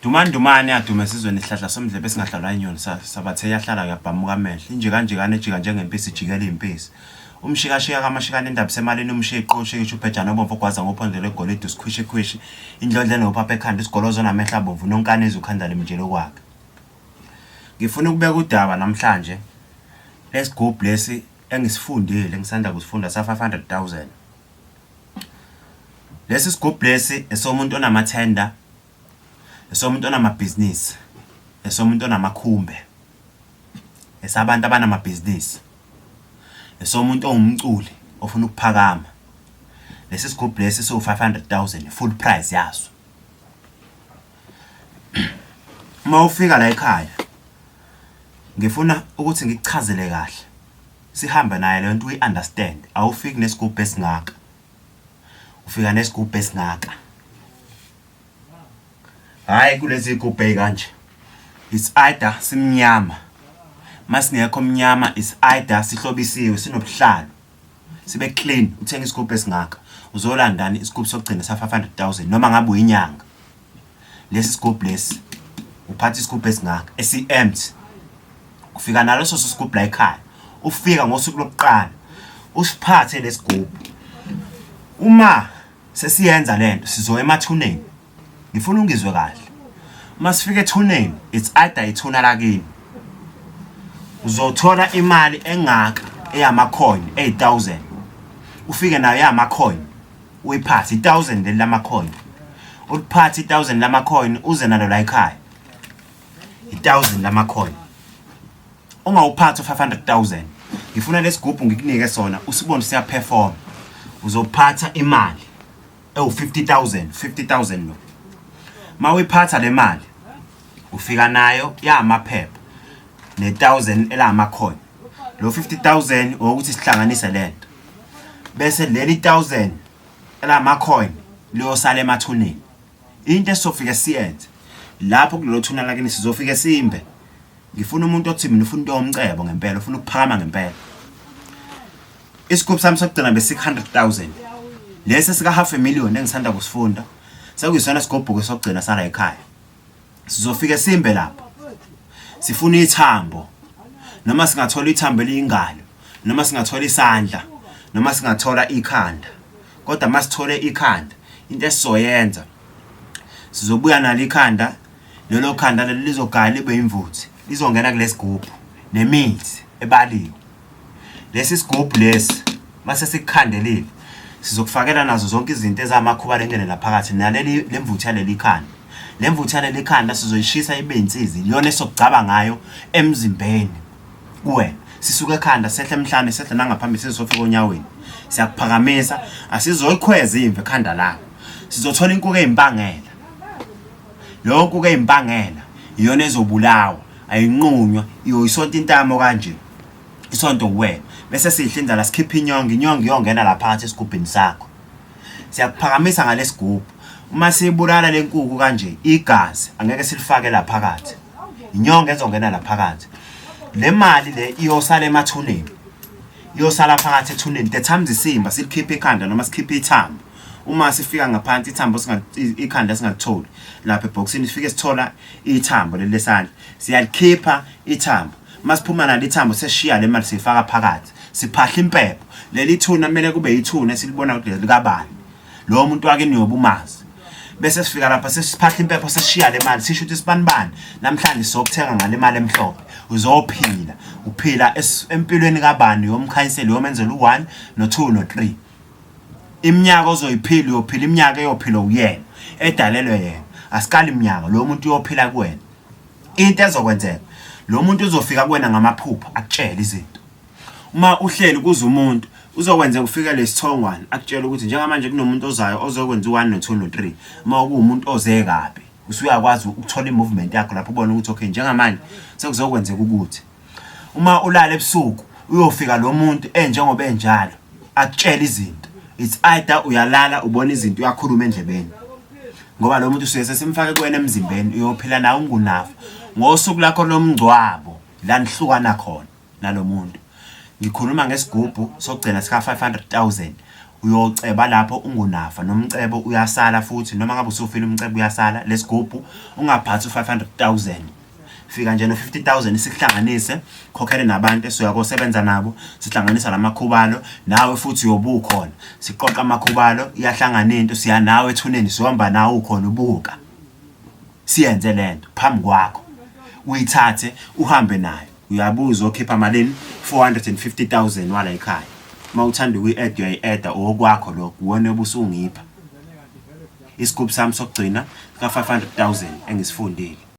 Dumandumane adume esizweni isihlahla somdlebe esingahlalwa inyoni sabathe yahlala yabhamuka amehlo inje kanjekane ejika njengempisi ijikela iyimpisi umshikashika kamashikane indaba isemalini umshiya iqoshe isho ubhejane obomvu ogwaza ngophondo lwegolide usikhwishikhwishi indlondla enophapha ekhanda isigolozo namehlo abomvu nonkanezi ukhanda limjele okwakhe ngifuna ukubeka udaba namhlanje lesigubhu lesi engisifundile ngisanda kusifunda sa 500 000 Lesi sigubhu lesi esomuntu onamathenda, esomuntu onamabhizinisi, esomuntu onamakhumbe, esabantu abanamabhizinisi, esomuntu ongumculi ofuna ukuphakama. Lesi sigubhu lesi siwu-five hundred thousand, full price yaso. Uma ufika layikhaya, ngifuna ukuthi ngikuchazele kahle. Sihambe naye lento uyi understand awufiki nesigubhu esingaka ufika nesigubhu esingaka hayi kulezi igubhu ezikanje it's either simnyama masingekho mnyama it's either sihlobisiwe sinobuhlalo sibe clean uthenga isigubhu esingaka uzolandani isigubhu sokugcina sa 500000 noma ngabe uyinyanga lesi sigubhu lesi uphatha isigubhu esingaka esi-empty ufika naleso sigubhu la ekhaya ufika ngosuku lokuqala usiphathe lesigubhu uma sesiyenza lento sizoya emathuneni ngifuna ungizwe kahle uma sifika ethuneni it's either ithuna lakini uzothola imali engaka eyamacoin 8000 ufike nayo yamacoin uyiphathe i-thousand leli lamacoin uliphathe i-thousand lamacoin uze nalo la ekhaya i-thousand lamacoin ungawuphathi u-five hundred thousand ngifuna lesigubhu ngikunike sona usibone siyaperforma uzophatha imali ewu-fifty thousand fifty thousand lo ma uyiphatha le mali ufika nayo yamaphepha ne-thousand elamacoin lo 50 000 wokuthi sihlanganise lento bese leli 1000 elama coin liyosala emathuneni into esizofike siyenze lapho kulelo thuna lakini sizofike simbe ngifuna umuntu othi mina ufuna into yomcebo ngempela ufuna ukuphakama ngempela isigubhu sami sokugcina be 600000 lesi sika half a million engisanda kusifunda sekuyisona sigubhuke sokugcina sala ekhaya sizofike simbe lapho sifuna ithambo noma singathola ithambo eliyingalo noma singathola isandla noma singathola ikhanda kodwa masithole ikhanda into esizoyenza sizobuya nalo ikhanda lelo khanda lelo lizogaya libe imvuthi lizongena kulesigubhu nemithi ebaliwe Lesi sigubhu lesi mase sikukhandelile sizokufakela nazo zonke izinto ezamakhuba lengene laphakathi naleli lemvuthu yaleli khanda le mvuthu yaleli khanda sizoyishisa ibe insizi iyona esokugcaba ngayo emzimbeni kuwena sisuke ekhanda sehle emhlane sehle nangaphambili sizofika onyaweni siyakuphakamisa asizoyikhweza imve ekhanda lakho sizothola inkuku ezimpangela lokhu ke impangela iyona ezobulawa ayinqunywa iyoyisonta intamo kanje isonto kuwena bese sidla indlala sikhipha inyongo inyongo iyongena la phakathi esigubhini sakho siyakuphakamisa ngalesigubhu uma sibulala lenkuku kanje igazi angeke silifake la phakathi inyongo ezongena la phakathi le mali le iyosala emathuneni iyosala phakathi ethuneni the times isimba silikhiphe ikhanda noma sikhiphe ithambo uma sifika ngaphansi ithambo ikhanda singalitholi lapha ebhokisini sifike sithola ithambo leli lesandla siyalikhipha ithambo Masiphuma nalo ithambo seshiya le mali siyifaka phakathi siphahla impepho leli thuna kumele kube yithuna esilibona ukuthi likabani lowo muntu wakini yobe umazi bese sifika lapha sesiphahla impepho seshiya le mali sisho ukuthi sibanibani namhlanje sokuthenga ngale mali emhlophe uzophila uphila empilweni kabani yomkhanyiseli yomenzela u1 no2 no3 iminyaka ozoyiphila uyophila iminyaka eyophila uyena edalelwe yena asikali iminyaka lo muntu uyophila kuwena into ezokwenzeka lo muntu uzofika kuwena ngamaphupha akutshele izinto uma uhleli kuze umuntu uzokwenzeka ufike lesithongwane akutshela ukuthi njengamanje kunomuntu ozayo ozokwenza u1 no 2 no 3 uma kuwumuntu oze kabi usuyakwazi ukuthola imovement yakho lapho ubona ukuthi okay njengamanje sekuzokwenzeka ukuthi uma ulala ebusuku uyofika lo muntu enjengoba enjalo akutshela izinto it's either uyalala ubona izinto uyakhuluma endlebeni ngoba lo muntu usuke sesimfake kuwena emzimbeni uyophila nawe ungunafa ngosuku lakho lomngcwabo la nihlukana khona nalo muntu ngikhuluma ngesigubhu sokugcina sika 500000 uyoceba lapho ungunafa nomcebo uyasala futhi noma ngabe usufile umcebo uyasala lesigubhu ungaphathi u 500000 fika nje no-50000 sikuhlanganise khokhele nabantu esuya kosebenza nabo sihlanganisa lamakhubalo nawe futhi uyobukhona siqoqa amakhubalo iyahlangana into siya nawe ethuneni siyohamba nawe ukhona ubuka siyenze lento phambi kwakho uyithathe uhambe nayo uyabuza okhipha malini 450000 wala ekhaya uma uthanda ukuyi-add uyayi-adda owokwakho lokho uwona obusungipha isigubhu sami sokugcina ka-500000 engisifundile